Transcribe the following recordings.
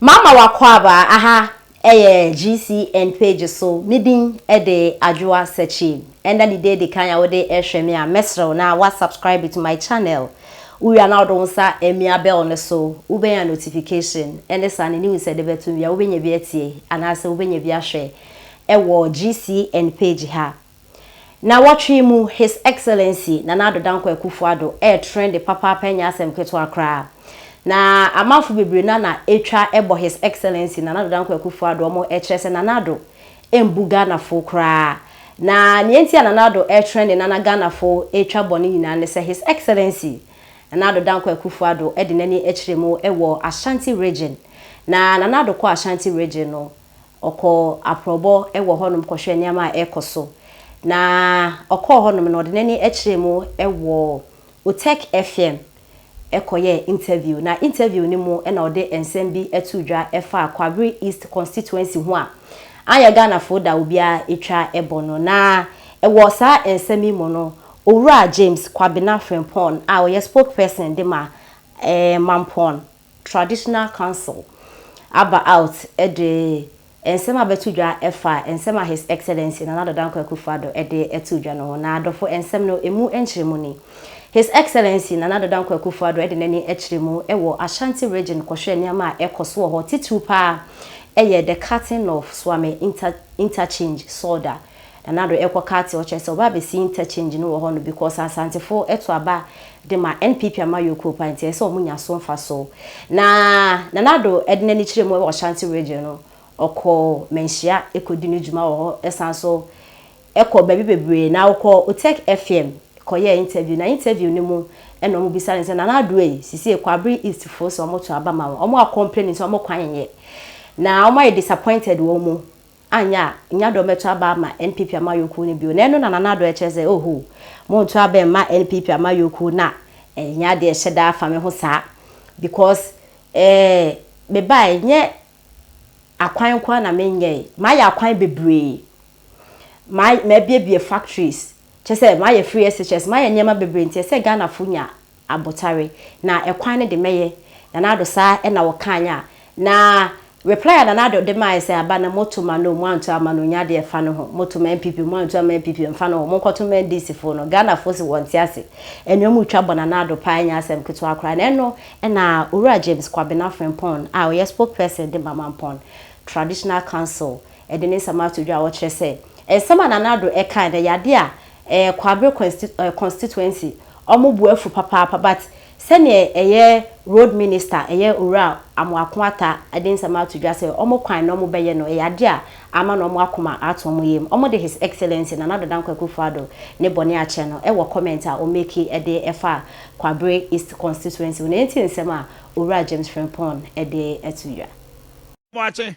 Mama w'akwaabaa aha ɛyɛ GCN page so, me din ɛde Adwoa Sakyi, ɛnda ne da edi kan a wode ɛhwɛ me a, mɛsrɛ wo na wa subscribe to my channel, wowie a na wode wo nsa ɛmia bell no so, wobɛnya notification ɛne saa ne news ɛde bɛto wie a wobɛnya bi atie anaasɛ wobɛnya bi ahwɛ ɛwɔ GCN page ha. Nnawɔtwe yi mu His Excellency Nana Addo Dankwa Akufo Addo ɛyɛ trende papaapa ɛnyɛ asɛm ketewa koraa. Na amanfo bebree no ara na ɛtwa ɛbɔ His Excellency Nana Addo Dankwa Akufo Addo wɔn ɛkyerɛ sɛ Nana Addo ɛmbu Ghanafoɔ koraa. Na nea nti a Nana Addo ɛtrende na na Ghanafoɔ ɛtwa bɔ no nyinaa ne sɛ His Excellency Nana Addo Dankwa Akufo Addo ɛde n'ani ɛkyerɛ mu ɛwɔ Ashanti Region. Na Nana Addo kɔ Ashanti Region no Ɔkɔɔ aprɔbɔ wɔ hɔnom kɔhwɛɛ nneɛma a ɛrekɔ so, na ɔkɔɔ hɔnom no, ɔde n'ani kyerɛɛ mu wɔ Utech FM kɔyɛɛ interview. Na interview no mu na ɔde nsɛm bi too dwa faa Kwabere East constituency ho a anyɛ Ghanafo da obiara twa bɔ no. Na wɔ saa nsɛm yi mu no, Owura James Kwabena Frimpong a ɔyɛ spokesperson de ma Mampong Traditional Council aba out de nsɛm a bɛto dwa fa nsɛm a His Excellency Nana Addo Dankwa Akufo-Addo de too dwa no ho. Na adɔfo, nsɛm no, emu nkyerɛmu ni. His Excellency Nana Addo Dankwa Akufo-Addo de n'ani kyerɛ mu wɔ Ashanti Region kɔhwɛɛ nneɛma a ɛkɔ so wɔ hɔ, titiriw paa yɛ the cutting of Suame Inter Interchange, SOIDA, Na Nado ɛkɔ Kati ɔkyerɛ sɛ ɔba abɛsi interchange no wɔ hɔ no because Asantefo to aba de ma NPP amayɔkuo paa nti ɛsɛ sɛ wɔn nya so mfaso. Na Nana Addo de n'ani kyerɛ mu wɔ Ashanti region no, ɔkɔ Manhyia kɔdi ne dwuma wɔ hɔ, ɛsan so kɔ baabi bebree. Na ɔkɔ Utech FM kɔyɛɛ interview na interview no mu na wɔn bisa no sɛ Nana Addo ei sesie Kwabere East foɔ sɛ wɔn to aba ma wɔn, wɔn a complain nti wɔn kwan nyɛ. Na wɔn ayɛ disappointed wɔn mu annyɛ a nnyɛ adɔ mɛto aba ama NPP amanyɔkuo no bio, na ɛno na Nana Addo kyerɛ sɛ oho, monto aba mma NPP amanyɔkuo no a, ɛnnyɛ adeɛ ɛhyɛ da fa me ho saa, because eh, mebaeɛ nnyɛ akwan nko ara na menyɛɛ, mayɛ akwan bebree, ma, mabuebue factories, kyerɛ sɛ mayɛ free SHS, mayɛ nneɛma bebree, nti ɛsɛ sɛ Ghanafoɔ nya abotare na ɛkwan no de mɛyɛ Nana Addo saa na ɔkaeɛ a na reply a Nana Addo de maeɛ sɛ aba no moto ma no o moanto amma no ɔnya deɛ ɛfa ne ho moto ma NPP o moanto amma NPP o mfa ne ho monkɔto ma NDC foɔ no Ghanafoɔ se wɔnte ase anuam retwa bɔ Nana Addo paa ɛnyɛ asɛm ketewa koraa na ɛno na Owura James Kwabena Frimpong a ɔyɛ spokesperson de ma Mampong Traditional Council Ɛde ne nsɛm ato dwa a ɔkyerɛ sɛ nsɛm a Nana Addo kae no ɛyɛ adeɛ a ɛɛ Kwabre constituency ɔmo bo afu papaapa but sɛdeɛ ɛyɛ road minister ɛyɛ Owura Amoako Atta ɛde nsɛm ato dwa sɛ ɔmo kwan na ɔmo bɛyɛ no ɛyɛ adeɛ a ama no ɔmo akoma ato ɔmo yam. Ɔmo de His Excellency Nana Addo Dankwa Akuffo Addo ne bɔne akyɛ no ɛwɔ comment a ɔ make ɛde ɛfa Kwabre East constituency ho na yɛntie nsɛm a Owura James Frimpong ɛde ato dwa. Boakye,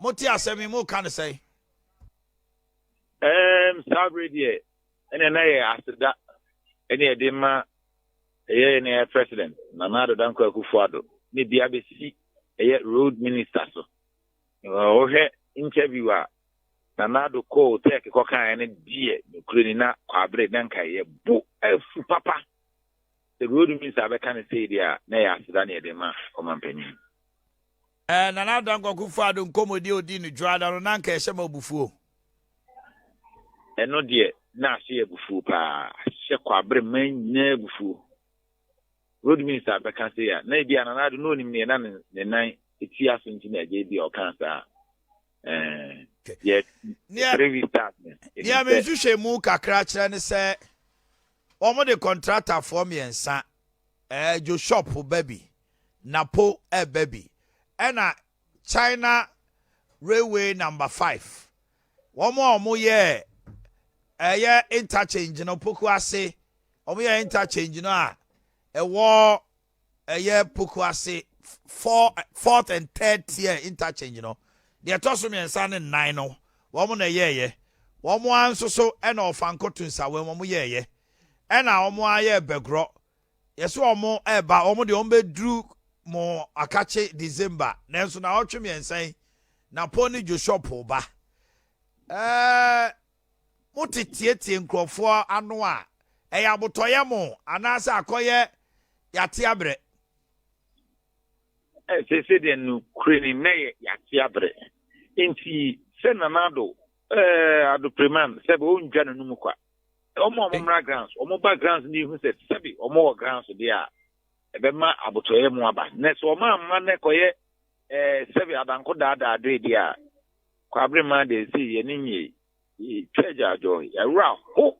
Mote asɛm yi, moreka no sɛn? Ɛɛm, saa bere deɛ, ɛnna na ɛyɛ aseda na yɛde ma ɛyɛ yɛn ɛyɛ President Nana Addo Dankwa Akufo-Addo ne bi abɛsi ɛyɛ Road Minister so. Wohwɛ interview a Nana Addo kɔɔ Turkey kɔkaeɛ no deɛ, nokorɛ ni na kwabere na nka yɛ bo afu papa. Sɛ Road Minister bɛka no sei deɛ a, na ɛyɛ aseda na yɛde ma ɔmampanyin. Eh Nana Dankwa Kufuor-Addo nkɔmmɔdi a ɔdii no Dwoada no na anka ɛhyɛ me abufuo. Ɛno deɛ na ase yɛ abufuo paa. Hyɛ Kwabre mmaa nyinaa abufuo. Road Minister bɛka sei a, na ebi a Nana Addo na ɔnim neɛ na ne nan ti aso nti na agya ebi a ɔkaa saa. Eh, yɛ three weeks start no. Deɛ me nhwehwɛ mu kakra kyerɛ ne sɛ, wɔn de kɔntratafoɔ mmiɛnsa, eh, Joe Shop ba bi, na po reba bi ɛna China railway number five wɔn a wɔn yɛɛ ɛyɛ interchange no poku ase wɔn yɛ interchange no a ɛwɔ ɛyɛ poku ase four fourth and third tier interchange no deɛ ɛtɔ so mmiɛnsa ne nnan no wɔn na ɛyɛɛyɛ wɔn ara nso so ɛna ɔfanko tunsawa wɔn yɛɛyɛ ɛna wɔn ayɛ bɛgorɔ Yɛse wɔn reba, wɔn deɛ wɔbɛduru mo akakye December, nanso naawɔtwe mmiɛnsa yi na Paul ne Joshua Pool ba. Ɛɛɛ mote tietie nkurɔfoɔ ano a, ɛyɛ abotɔyɛ mo anaasɛ akɔyɛ yɛate abrɛ? Seesei deɛ nokorɛ ni na ɛyɛ yɛate abrɛ. Nti sɛ Nana Addo, ɛɛɛ Addo Preman, sɛbe ɔndwa n'anum kwa. Wɔn a wɔmmra grounds, wɔba grounds ne hu sɛ sɛbi wɔwɔ grounds deɛ a, ɛbɛma abotɔeɛ mu aba. Na sɛ wɔn amma na ɛkɔyɛ ɛɛ eh, sɛbi abanko daadaa adoe deɛ a, kwabere maa deɛ ɛsɛ yɛ ne nyie yɛtwa agyaadwɔ yɛawerɛ aho.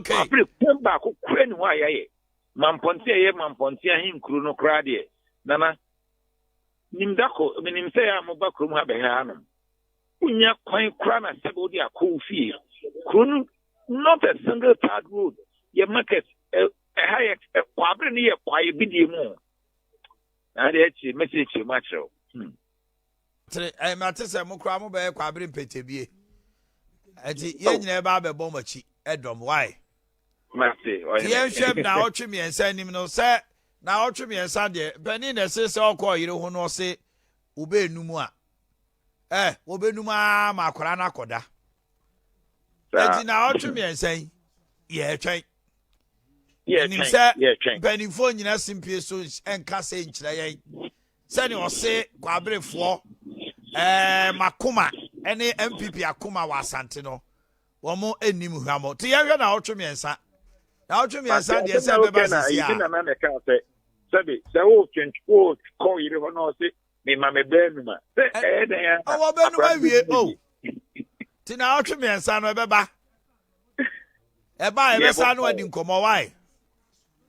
Kwabere kwan baako kura ne hɔ a yɛayɛ mampɔnte a ɛyɛ mampɔnte ahenkuro no koraa deɛ nana nim dako menim sɛ yɛ a moba kurom ha bɛhɛ hanom Wunnya kwan koraa na sɛbe wode akɔ wo fie. Kuro no not a single tarred road yɛ market ɛ ɛha yɛ ɛ kwabre no yɛ kwaeɛ bidie mu o. Na adeɛ akyire mɛsɛ akyire mu akyerɛ wo. Hmm. Tere ɛ eh, mate sɛ mo koraa mobɛyɛ kwabre mpɛtɛbie. Ɛti yɛn oh. nyinaa ɛba abɛbɔ mo akyi ɛdɔm wae. Mate ɔyɛ. Yɛnhwɛ m na ɔtwe mmiɛnsa anim no sɛ na ɔtwe mmiɛnsa deɛ panin na ɛse sɛ ɔkɔ ɔyere ho no ɔse wobɛɛnu mu a Eh, wɔbɛnum ara ma akwadaa no akɔda. Eti na ɔtwe mmiɛnsa yi, yɛretwɛn. Nim sɛ mpanimfoɔ nyina simpie so nka sɛ nkyerɛ yɛn sɛnea ɔse kwaberefoɔ ɛɛ makoma ɛne npp akoma wɔ asante no wɔn anim hwamɔ te yɛhwɛ na ɔtwe mmiɛnsa na ɔtwe mmiɛnsa deɛ sɛ bɛba sisi a. sɛbi sɛ wotwe wokɔ yere hɔ na ɔse Me ma me bɛ numa. Sɛ ɛyɛ dɛn a. Ɔwɔ bɛ numa wie o. Ti na ɔtwe mmiɛnsa no ɛbɛ ba. Ɛba a ɛbɛ sa no adi nkɔmɔ wae.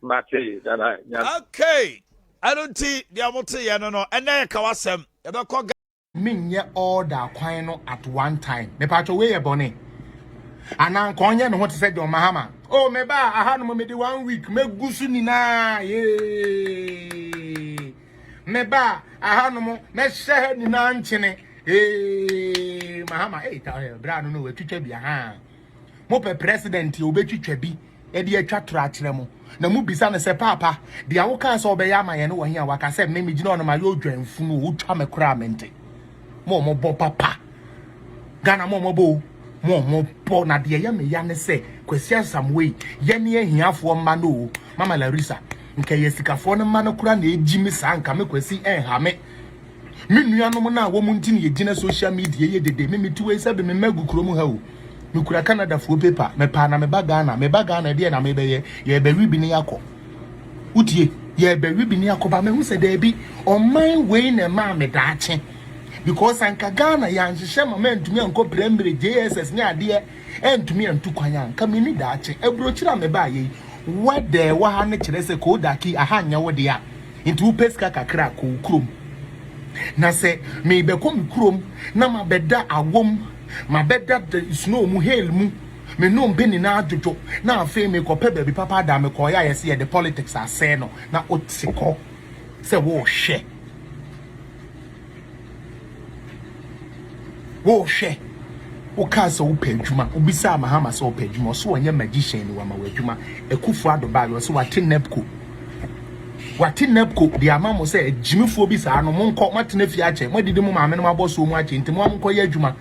Mate dada nyame. Okay. Ɛno nti deɛ ɔmo te yɛ no no ɛnɛ yɛ kawa sɛm ɛbɛ kɔ. menyɛ order kwan no at one time mepatwɔ wei yɛ bɔne anaa nka ɔnyɛ ne ho te sɛ John Mahama o oh, meba aha no mede one week mɛgu so nyinaa yee Mebaa ahanom na hyɛ ha nyinaa nkyene. Ee, mahama ee ta ɔyɛ bra no na wɔatwitwa bi aha. Mopɛ president a obetwitwa bi de atwa toro akyerɛ mo. Na mubisa no sɛ paapa, deɛ wokaa sɛ ɔbɛyɛ ama yɛn no wɔ he a waka sɛ me megyina hɔ no mayɛ odwanfunu o, wotwa me koraa mente. Mo mo bɔ papa. Ghana mo mo bɔ o. Mo mo bɔ na deɛ yɛ me ya ne sɛ Kwasi Asamwei yɛ ne ahiafoɔ mma no o. Mama Larissa nka yɛ sikafoɔ no mma no kora na egyi me saa nka me Kwasi ɛnha me. Me nuanom no a wɔn nti na yɛgyina social media yɛ dede me mete wei sɛ be me mma agu kurom ha o. Mekura Canadafoɔ paper mepaa na meba Ghana meba Ghana ɛdeɛ na mebɛyɛ yɛrebɛwe bi ne yɛakɔ. Wotie? Yɛrebɛwe bi ne akɔba. Mahu sɛ daabi, ɔman wei na ɛmaa me daakye. Because anka Ghana yɛanhyehyɛ ma mantumi ankɔ primary, JSS ne adeɛ antumi antu kwan a, anka menni daakye. Aburokyire a mebaeɛ yi, weather a ɛwɔ ha no kyerɛ sɛ Koodaki, aha nyɛ wo dea. Nti wopɛ sika kakra a, kɔ wo kurom. Na sɛ merebɛkɔ me kurom na mabɛda awom, mabɛda snow mu, hail mu, Me nnompe nyinaa dwodwo na afei mekɔpɛ baabi papa da a mekɔeɛ a yɛse yɛde politics asɛe no na wote hɔ sɛ worehwɛ worehwɛ wokaa sɛ wopɛ adwuma wobisaa Mahama sɛ ɔpɛ adwuma ɔsɛ ɔnyɛ magician ni wama w'adwuma Akufo Addo baa yɛ ɔsɛ wate NEPCO wate NEPCO de ama mo sɛ agyimifoɔ bi saa no monkɔ moatena fie akyɛ moadidi mo maame no mabɔ soɔ mu akyɛ nti mo a monkɔyɛ adwuma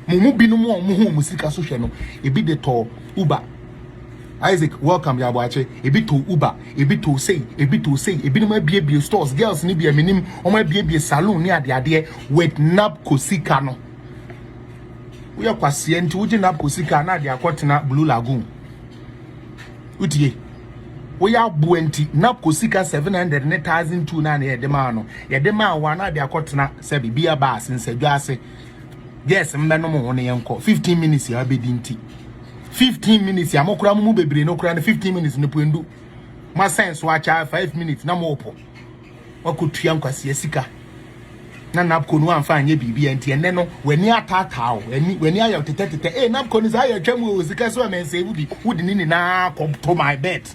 Mo mu binom a wɔhuu mo sika so hwɛ no, ebi de tɔɔ Uber. Isaac, welcome, yɛ aboakye. Ebi too Uber, ebi too sei, ebi too sei. Ebinom abiebie stores, girls no bi a menim, wɔn abiebie saloon ne adeadeɛ with NABCO sika no. Woyɛ kwaseɛ nti wogye NABCO sika na ade akɔtena Blue Lagoon. Wotie? Woyɛ aboa nti NABCO sika 700 ne 1002 na na yɛde maa no. Yɛde maa wo a na ade akɔtena sɛ biribi aba ase, nsadwa ase. girls mbɛnom ho no yɛnkɔ 15 minutes a abɛdi nti 15 minutes a mokora mo mu bebree no kora no 15 minutes no pɔndu moasɛn so akyɛ 5 minutes na moɔpɔ wakɔtua nkwasia sika na napco no amfa anyɛ biribi a nti ɛnɛ no w'ani ataataa o w'ani ayɛ tetɛtetɛ ee napco no saa yɛ atwa mu o sika so ɛmɛnsɛe wo bi wode ne nyinaa kɔto my bet